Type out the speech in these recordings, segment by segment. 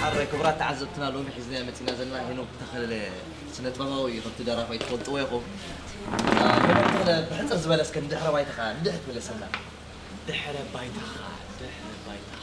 ሓረ ክቡራት ተዓዘብትና ሎሚ ሒዝናዮ መጺእና ዘለና ሄኖክ ተኸለ ስነጥበባዊ እዩ ከምቲ ደራፋይ ትፈልጥዎ ኢኹም ሄኖክ ተኸለ ብሕጽር ዝበለ እስከ ንድሕረ ባይታኻ ንድሕት መለሰና ድሕረ ባይታኻ ድሕረ ባይታኻ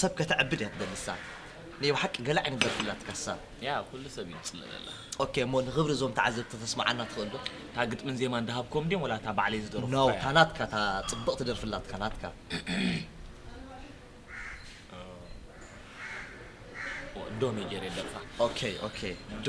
ሰብ ከተዕብድ እያ ትደሊ እሳ ናይ ብሓቂ ገለ ዓይነት ደርፊ ኣላትካ እሳ። ያ ኩሉ ሰብ እዩ ዝጽለለላ። ኦኬ እሞ ንኽብሪ እዞም ተዓዘብቲ ከተስምዓና ትኽእል ዶ? እታ ግጥምን ዜማን ድሃብክዎም ድዮም ወላ እታ ባዕለይ ዝደረፍኩዋ እያ? ኖው እታ ናትካ እታ ጽብቕቲ ደርፊ ኣላትካ ናትካ። ዶ ኔጀርየ ደርፋ። ኦኬ ኦኬ ዶ።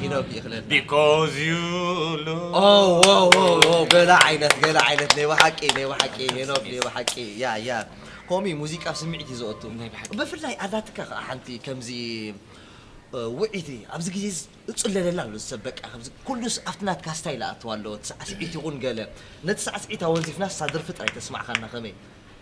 ሄኖክ ይኽለና Because you love ኦ ዎ ዎ ዎ ገለ ዓይነት ገለ ዓይነት ናይ ብሓቂ ናይ ብሓቂ ሄኖክ ናይ ብሓቂ ያ ያ ከምኡ እዩ ሙዚቃ ኣብ ስምዒት እዩ ዘእቱ ናይ ብሓቂ። ብፍላይ ኣላትካ ከዓ ሓንቲ ከምዚ እ፣ ውዕይቲ ኣብዚ ግዜ እዚ እፅለለላ ኣሎ ሰብ በቃ ከምዚ ኩሉስ ኣብቲ ናትካ ስታይል ኣእትዋ ኣለዎ እቲ ሳዕስዒት ይኹን ገለ ነቲ ሳዕስዒት ኣወንዚፍናስ እታ ደርፊ ጥራይ ተስማዕኻና ከመይ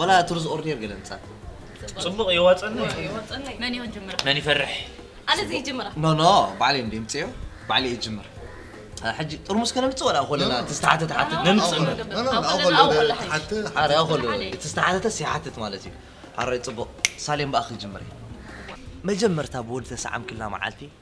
ወላ ትርዝ ኦርዴር ገለ ምጻት ጽቡቕ ይዋጸኒ መን ይሆን ጅምራ መን ይፈርሕ ኣነ ዘይ ጅምራ ኖ ኖ ባዕለይ እንደ ምጽዮ ባዕለይ ይጅምር ሕጂ ጥርሙስ ከነምጽእ ወላ ኮለና ትስተሓተ ትሓትት ነምጽእ ኣረ ኮሎ ትስተሓተተስ ይሓትት ማለት እዩ ኣረ ጽቡቕ ሳሌም በኣ ክጅምር መጀመርታ ብወዲ ተሰዓምክላ መዓልቲ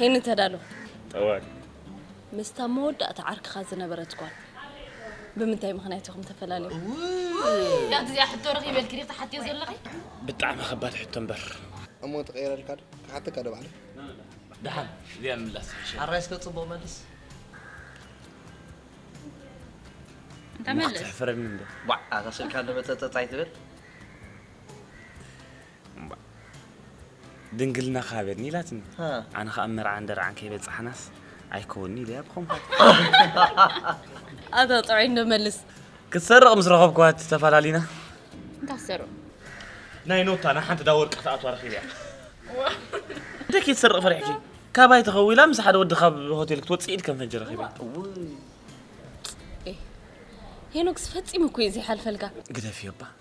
ሄኒ ተዳሎ ጠዋል ምስታ መወዳእታ ዓርክኻ ዝነበረት ጓል ብምንታይ ምኽንያት ኢኹም ተፈላለዩ? ያት እዚኣ ሕቶ ረኺበልኪ ዲኺ ትሓትዮ ዘለኺ? ብጣዕሚ ከባድ ሕቶ እምበር እሞ ትቐይረልካ ዶ ክሓተካ ዶ ባዕለይ ደሓን እዚኣ ምላስ ሓራይ እስከ ፅቡቕ መልስ እንታይ መልስ ክትሕፍረኒ እንዶ ዋዕ ኣታ ስልካ ንበፀፀፅ ኣይትበል ድንግልናኻ ሃበኒ ኢላትኒ ኣነ ከዓ መርዓን ደርዓን ከይበፃሕናስ ኣይከውንኒ ኢለያ ብኸምኳት ኣታ ጥዑይ እንዶ መልስ ክትሰርቕ ምስ ረኸብኩዋ ተፈላለና እንታይ ትሰርቕ ናይ ኖታ ናይ ሓንቲ ዳ ወርቂ ክትኣትዋ ረኺብያ እንታይ ከይትሰርቕ ፈሪሕኪ ካባይ ተኸዊላ ምስ ሓደ ወዲ ካብ ሆቴል ክትወፅእ ኢድ ከም ፈንጂ ረኺባ ሄኖክስ ፈፂሙ እኮ እዩ ዘይሓልፈልካ ግደፍዮ እባ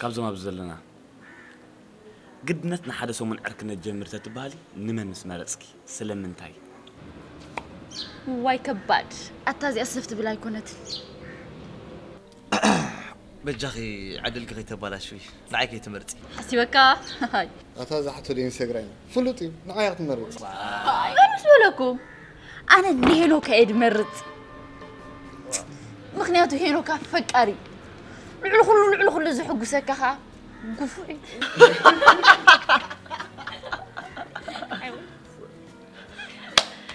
ካብዞም ኣብዚ ዘለና ግድነት ንሓደ ሰሙን ዕርክነት ጀምር ተትበሃሊ ንመን ምስ መረፅኪ ስለምንታይ? ዋይ ከባድ ኣታ እዚኣ ስፍ ትብል ኣይኮነትን በጃኺ ዕድልኪ ከይተባላሽዊ ንዓይ ከይትመርፂ ሓሲበካ ኣታ እዛ ሕቶ ዶ ኢንሰግራም ፍሉጥ እዩ ንዓይ ክትመርፅ ኣይ ኣነስ በለኩም ኣነ ንሄኖክ እየ ድመርፅ ምክንያቱ ሄኖክ ኣፈቃሪ ልዕሊ ኩሉ ልዕሊ ኩሉ ዝሕጉሰካ ከዓ ግፉዕ እዩ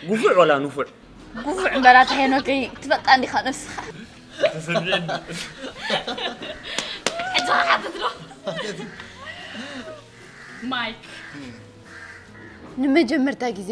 ጉፉዕ ወላ ንፉዕ ግፉዕ እምበራት ሄኖከይ ትበቃ እንዲኻ ነብስኻ ተሰሚዕኒ ሕጂ ክሓትት ዶ ማይክ ንመጀመርታ ግዜ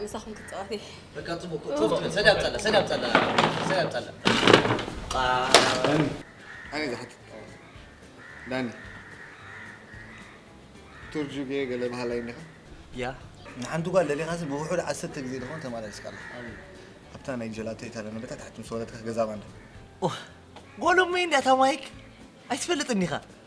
ምሳኹም ክፃወት ዳኒ ቱርጁ ገለ ባህላ ይኒኻ ያ ንሓንቲ ጓል ለሊኻሲ ብውሑድ ዓሰርተ ግዜ ድኾን ተመላለስካ ኣለኻ ኣብታ ናይ ጀላቶ ኢታልያ ነበታ ታሕቲ ምስ ወረድካ ገዛ ባንዳ ጎሎመይ እንዲያ እታ ማይክ ኣይትፈልጥን ኢኻ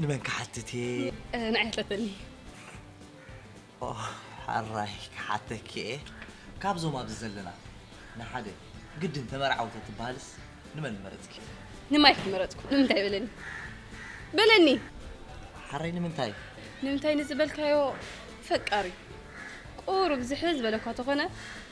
ንመን ክሓትት እየ ንዓይ ኣትለተኒ ሓራይ ክሓተኪ እየ ካብዞም ኣብዚ ዘለና ንሓደ ግድን ተመርዓው ተትበሃልስ ንመን መረፅኪ ንማይክ መረፅኩ ንምንታይ በለኒ በለኒ ሓራይ ንምንታይ ንምንታይ ንዝበልካዮ ፈቃሪ ቁሩብ ዝሕል ዝበለኳ ተኾነ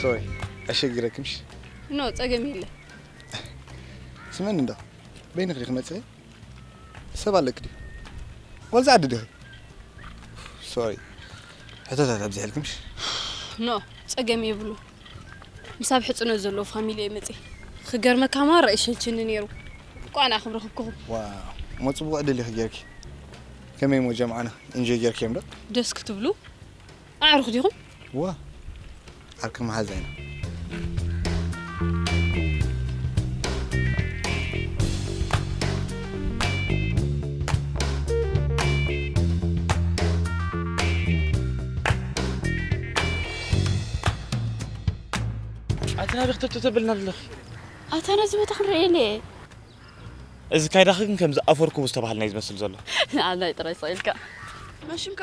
ሶሪ ኣሸግረክምሽ ኖ ፀገም የለን ስመን እንዶ በይንኽ ዲኺ መፅኢ ሰብ ኣለኪ ድዩ ወልዚ ዓዲ ዲኺ ሶሪ ሕቶታት ኣብዚሐልኪ ምሽ ኖ ጸገም የብሉ ምስ ኣብ ሕጽኖት ዘለዎ ፋሚሊ እየ መጽ ክገርመካ ማራ ይሸንችኒ ነይሩ ቋን ኣኽብ ረኽብክኹም ዋው እሞ ጽቡቕ ዕድል ኢኺ ጌርኪ ከመይ እሞ ጀምዓና ኢንጆይ ጌርክዮም ዶ ደስ ክትብሉ ኣዕሩኽ ዲኹም? እወ ዓርኪ መሓዛ ኢና። ኣቲ ናበይ ክትእቱ ተብልና ኣለኺ? ኣታ ነዚ ቦታ ክንርኢ ኢለ እየ። እዚ ካይዳኺ ግን ከምዚ ኣፈርኩቡ ዝተባህለ ናይ ዝመስል ዘሎ። ንዓናይ ጥራይ ስቕ ኢልካ። መን ሽምካ?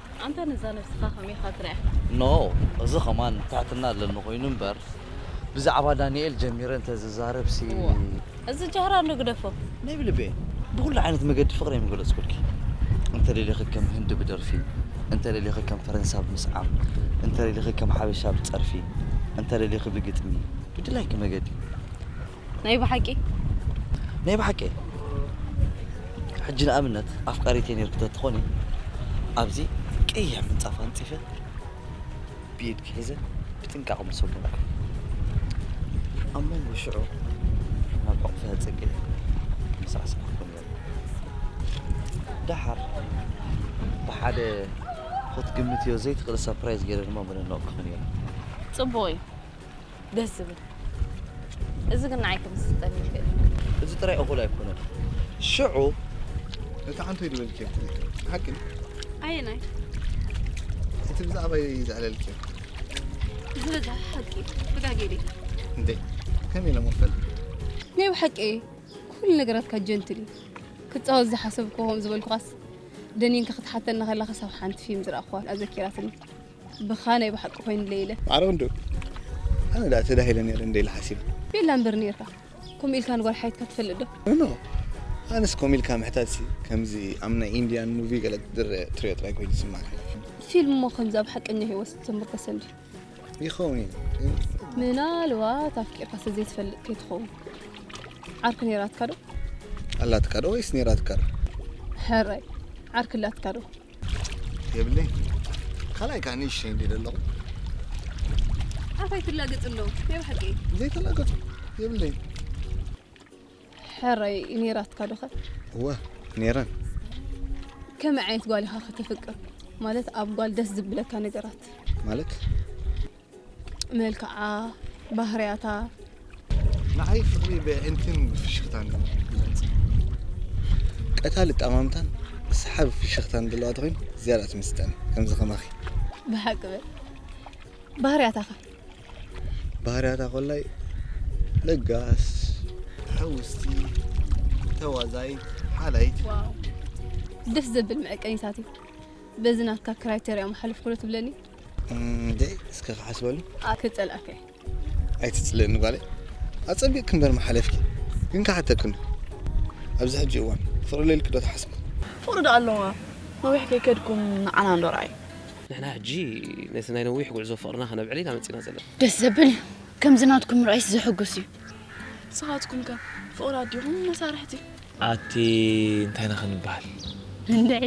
ኣንታ ነዛ ነብስኻ ከመይ ኢኻ ትርእያ? No እዚ ከማን ትሕትና ኣለኒ ኮይኑ እምበር ብዛዕባ ዳኒኤል ጀሚረ እንተ ዝዛረብሲ። እዚ ጃህራ እንዶ ግደፎ። ናይ ብልበይ ብኹሉ ዓይነት መገዲ ፍቕረይ ምገለጽኩልኪ። እንተ ደሊኺ ከም ህንዲ ብደርፊ፣ እንተ ደሊኺ ከም ፈረንሳ ብምስዓም፣ እንተ ደሊኺ ከም ሓበሻ ብጸርፊ፣ እንተ ደሊኺ ብግጥሚ፣ ብድላይኪ መገዲ። ናይ ብሓቂ ናይ ብሓቂ እየ ሕጂ ንኣብነት ኣፍቃሪት እየ ነርኩ ተትኾኒ ኣብዚ ቀይሕ ምንፃፍ ኣንፂፈ ብኢድ ክሒዘ ብጥንቃቕ ምሰጎምኩ ኣብ መንጎ ሽዑ ናብ ዕቕፈ ፅግ ምስራስዕ ክኾን እየ ደሓር ብሓደ ክትግምትዮ ዘይትኽእል ሰርፕራይዝ ገይረ ድማ ምንነቕ ክኾን እየ ፅቡቕ እዩ ደስ ዝብል እዚ ግን ንዓይ ክምስጠኒ ይክእል እዩ። እዚ ጥራይ እኹል ኣይኮነን ሽዑ እቲ ሓንቶ ይድበልኪ ሓቂ ኣየናይ እቲ ብዛዕባይ ዘዕለልኪ ዝበዛ ሓቂ ብጋጌዲ እንዴ ከመይ ኢለ መፈልጥ ናይ ብሓቂ ኩሉ ነገራትካ ጀንትል እዩ ክፃወት ዝሓሰብኩ ከምኡ ዝበልኩኻስ ደኒንካ ክትሓተና ከላ ክሳብ ሓንቲ ፊልም ዝረኣኹዋ ኣዘኪራትኒ ብኻ ናይ ብሓቂ ኮይኑለይ ኢለ ማዕረ ክንዱ ኣነ ዳኣ ተዳሂለ ነይረ እንደ ኢለ ሓሲበ ቤላ እምበር ነይርካ ከምኡ ኢልካ ንጓል ሓይትካ ትፈልጥ ዶ ኖ ኣነስ ከምኡ ኢልካ ምሕታትሲ ከምዚ ኣብ ናይ ኢንድያን ሙቪ ገለ ትድረ ትሪኦ ጥራይ ኮይኑ ይስማዓኒ ፊልም እሞ ከምዚ ኣብ ሓቀኛ ሂወት ዝተመርኮሰ እንድዩ ይኸውን እዩ ግን ምናልባት ኣፍቂርካ ስለ ዘይትፈልጥ ከይትኸውን ዓርኪ ነይራትካ ዶ ኣላትካ ዶ ወይስ ነይራትካ ዶ ሕራይ ዓርኪ ኣላትካ ዶ የብለይ ካልኣይ ከዓ ንእሽተይ እንዲ ዘለኹ ኣንታይ ትላገፅ ኣሎ ናይ ብሓቂ ዘይተላገፁ የብለይ ሕረይ ኔራትካ ዶኸ እወ ኔረን ከመይ ዓይነት ጓል ኢኻ ከተፍቅር ማለት ኣብ ጓል ደስ ዝብለካ ነገራት ማለት መልክዓ ባህርያታ ንዓይ ፍቕሪ ብኣዒንትን ብፍሽኽታን እዩ ዝገልጽ። ቀታሊ ኣጠማምታን ሰሓቢ ፍሽኽታን ዘለዋ ተኾይኑ ዝያዳ ትምስጠኒ ከምዚ ከማኺ። ብሓቂ በል ባህርያታ ከ ባህርያታ ኮላይ ለጋስ ሕውስቲ ተዋዛይት ሓላይት ዋው ደስ ዘብል መዐቀኒታት እዩ በዚ ናትካ ክራይተርያ መሓልፍ ኩሎ ትብለኒ እንዴ እስከ ክሓስበሉ ክጸልኣከ ኣይትጽልእኒ ጓለይ ኣጸቢቕ ክንበር መሓለፍኪ ግን ክሓተክን ኣብዚ ሕጂ እዋን ፍቕሪ ሌልኪ ዶ ትሓስቢ ፍቕሪ ዶ ኣለዋ ነዊሕ ከይከድኩም ንዓና እንዶ ርኣይ ንሕና ሕጂ ነቲ ናይ ነዊሕ ጉዕዞ ፍቕርና ከነብዕል ኢና መጺና ዘለና ደስ ዘብል እዩ ከምዚ ናትኩም ምርኣይስ ዘሕጉስ እዩ ንስኻትኩም ከ ፍቕሪ ኣዲኹም መሳርሕቲ ኣቲ እንታይ ኢና ክንበሃል? እንድዒ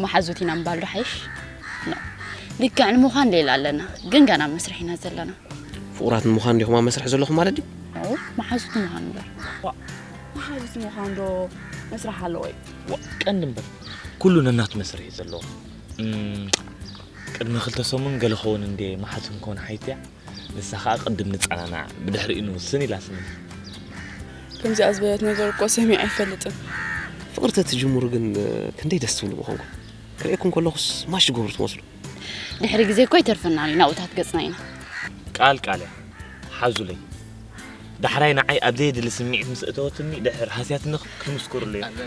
መሓዙት ኢና ምባል ዶ ሓይሽ? ኖ ልክዕ ንምዃን ሌላ ኣለና፣ ግን ገና ኣብ መስርሕ ኢና ዘለና። ፍቑራት ንምዃን ዲኹም ኣብ መስርሕ ዘለኹም ማለት ድዩ? ኖ መሓዙት ንምዃን እምበር። መሓዙት ንምዃን ዶ መስርሕ ኣለዎ እዩ? ቀንዲ እምበር ኩሉ ነናቱ መስርሕ እዩ ዘለዎ። እም፣ ቅድሚ ክልተ ሰሙን ገለ ክኸውን እንድየ መሓዙት ክንከውን ሓይትያ ንሳ ከኣ ቅድም ንጸናናዕ ብድሕሪኡ ንውስን ኢላትኒ። ከምዚኣ ዝበለት ነገር እኮ ሰሚዐ ኣይፈልጥን። ፍቕሪ ተትጅምሩ ግን ክንደይ ደስ ትብሉ ምኾንኩም። ክርእየኩም ከለኹስ ማሽ ትገብሩ ትመስሉ። ድሕሪ ግዜ እኮ ይተርፈናን እዩ ናብኡታት ገጽና ኢና። ቃል ቃል እያ ሓዙለይ። ዳሕራይ ንዓይ ኣብ ዘየድሊ ስምዒት ምስ እተወትኒ ድሕር ሃስያትኒ ክትምስክሩለይ። እንተ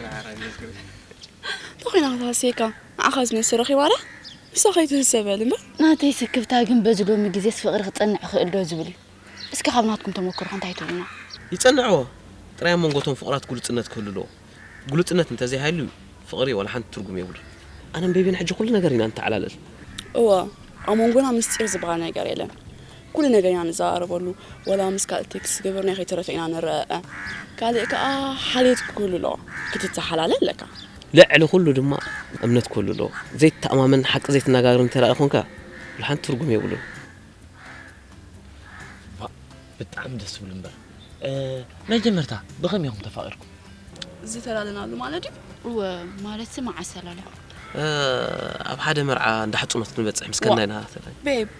ኮይና ክትሃስየካ ንዓኻስ ነብሲ ረኺባላ ንሳ ከይትህሰ በል እምበር። ናተይ ስክፍታ ግን በዚ ሎሚ ግዜስ ፍቅሪ ክጸንዕ ይኽእል ዶ ዝብል እዩ እስከ ካብ ናትኩም ተመክሮ ከ እንታይ ትብሉና። ይጸንዕዎ ጥራይ ኣብ መንጎ እቶም ፍቁራት ግሉጽነት ክህሉ ኣለዎ ግሉጽነት እንተዘይ ሃልዩ ፍቅሪ ዋላ ሓንቲ ትርጉም የብሉን። ኣነን ቤቢን ሕጂ ኩሉ ነገር ኢና ንተዓላልል። እወ ኣብ መንጎና ምስጢር ዝበሃል ነገር የለን ኩሉ ነገር ኢና ንዘራረበሉ ወላ ምስ ካልእ ቴክስት ዝገበርናዮ ከይተረፈ ኢና ንረኣኣ ካልእ ከኣ ሓልዮት ክህሉ ኣለዎ ክትተሓላለ ኣለካ። ልዕሊ ኩሉ ድማ እምነት ክህሉ ኣለዎ ዘይትተኣማመንን ሓቂ ዘይትነጋገርን እንተድኣ ኮንካ ብሓንቲ ትርጉም የብሉን። ዋእ ብጣዕሚ ደስ ትብሉ እምበር መጀመርታ ብከመይ ኢኩም ተፋቂርኩም? ዝተላለናሉ ማለት ድዩ? እወ ማለትሲ መዓስ ተላሊኩም? ኣብ ሓደ መርዓ እንዳ ሕጽኖት ንበጽሕ ምስ ከድና ኢና ተላሊና። ቤብ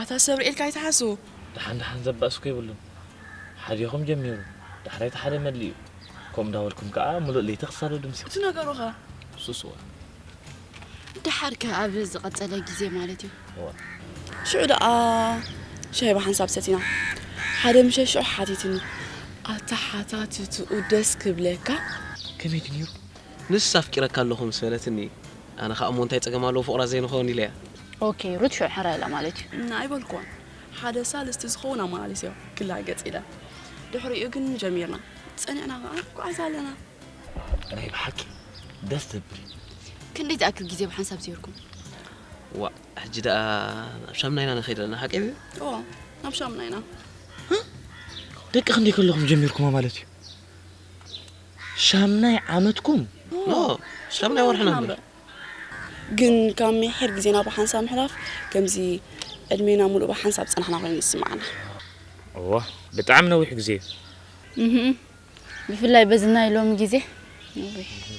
ኣታ ሰብ ርኤልካ ኣይትሓሱ። ደሓን ደሓን ዘባእስኩ የብሉን ሓዲኹም ጀሚሩ ዳሕራይ እቲ ሓደ መሊኡ ከምኡ እንዳበልኩም ከኣ ምሉእ ለይቲ ክሳብ ድምሲ። እቲ ነገሩኸ ሱስዋ። ደሓርከ ኣብ ዝቐጸለ ግዜ ማለት እዩ። እወ። ሽዑ ደኣ ሻሂ ብሓንሳብ ሰቲና ሓደ ምሸት ሽዑ ሓቲትኒ። ኣተሓታትትኡ ደስ ክብለካ። ከመይ ድዩ ነይሩ? ንስ ኣፍቂረካ ኣለኹ ምስ በለትኒ። ኣነ ከኣ እሞ እንታይ ጸገም ኣለዎ ፍቑራት ዘይንኸውን ኢለያ። ኦኬ ሩት ሽዑ ሕራይ ኢላ ማለት እዩ። እና ኣይበልኩዎን ሓደ ሳልስቲ ዝኸውን ኣመላሊሰዮ ክላገጽ ኢለ ድሕሪኡ ግን ጀሚርና ጸኒዕና ከኣ ንጉዓዝ ኣለና። ናይ ብሓቂ ደስ ዘብል እዩ። ክንደይ ዝኣክል ግዜ ብሓንሳብ ዜርኩም? ዋእ ሕጂ ደኣ ናብ ሻምና ኢና ንኸይድ ኣለና ሓቀይ ድዩ? እዎ ናብ ሻምና ኢና። ደቂ ክንደይ ከለኹም ጀሚርኩማ ማለት እዩ? ሻምናይ ዓመትኩም ን ሻምናይ ወርሒ ነንብር። ግን ካብ ሚሒር ግዜና ብሓንሳብ ምሕላፍ ከምዚ ዕድሜና ምሉእ ብሓንሳብ ዝጸናሕና ኮይኑ ይስምዓና። እወ ብጣዕሚ ነዊሕ ግዜ እዩ። እህም ብፍላይ በዚ ናይ ሎሚ ግዜ ነዊሕ እዩ።